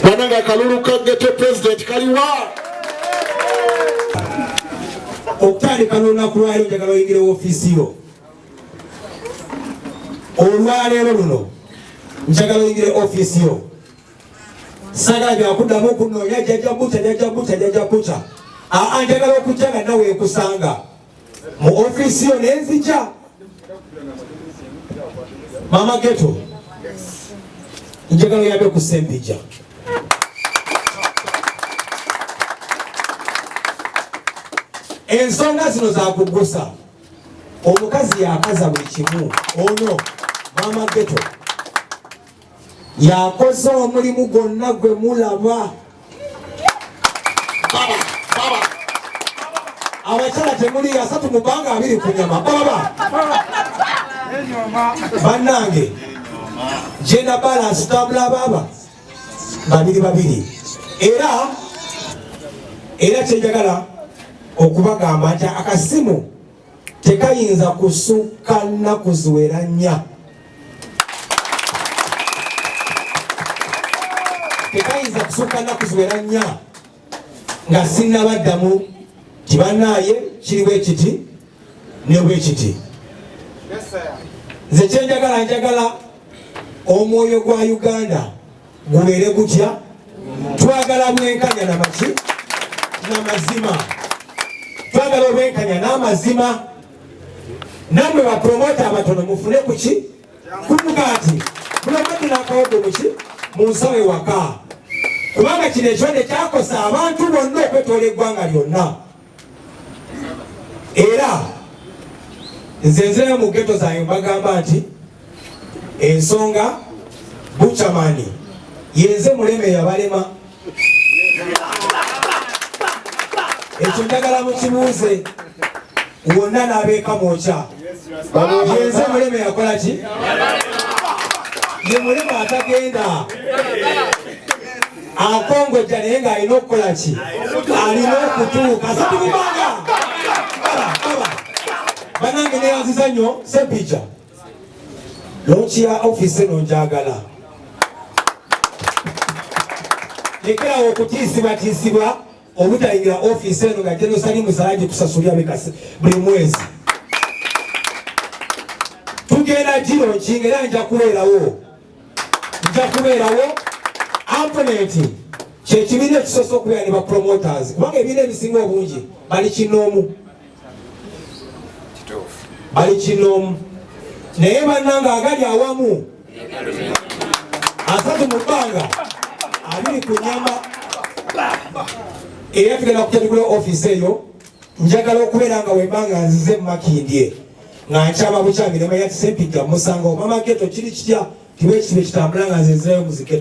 banange akalulu ka geto pulezidenti kaliwa okutandika nolunaku lwali njagala oyingire wofiisi yo olwaleero luno njagala oyingire ofiisi yo sagala byakuddamu kunoonya jajabuca jajabuca jajabuca aa njagala okujja nga nawe ekusanga mu office yo nenzija mama geto njagala yabe ku sempija ensonga zino zakugusa omukazi yakaza buli kimu ono mama geto yakoze omulimu gwonna gwe mulaba abakyala temuli asatu mu bbanga abiri ku nyama baba bannange genda balansi tambula baba babiri babiri era era kyenjagala okubagamba nti akasimu tekayinza kusukka nnaku ziwera nnya tekayinza kusukka nnaku ziwera nnya nga sinnabaddamu tibanaaye kiri bwe kiti ne bwe kiti nze kyenjagala njagala omwoyo gwa uganda gubeere gutya twagala bwenkanya namaki namazima twagala obwenkanya n'amazima namwe bapromota abatono mufune kuki kumugaati mulabadde n'akawadde muki mu nsawo ewaka kubanga kino ekibadde kyakosa abantu bonna okwetoola eggwanga lyonna era nze nzirayo mu geto zange mbagamba nti ensonga bucamani yenze muleme yabalema ekyo njagala mukibuuze wonna n'abeeka mwokya yenze muleme yakola ki ye mulema atagenda akongojja naye ng'alina okukola ki alina okutuuka satumubanga banange neyanziza nnyo sepija lonki ya ofisi eno njagala lekerawo okutiisibatiisibwa obutayingira ofisi eno nga jenosali musala gyetusasulira buli mwezi tugenda giro nkinga era nja kubeerawo nja kubeerawo amponenti kyekibiina ekisoose okubeera ne bapromoters kubanga ebiina ebisinga obungi bali kinoomu bali kinoomu naye bannanga agali awamu asatu mu bbanga abiri ku nyama era tugenda kutandikula ofiisi eyo njagala okubeera nga wembanga nzize mumakindye nga nkyama bukyami ne manya nti sempijja musanga omama geto kiri kitya kiba ekisibe kitambula nga nze nzirayo muziketo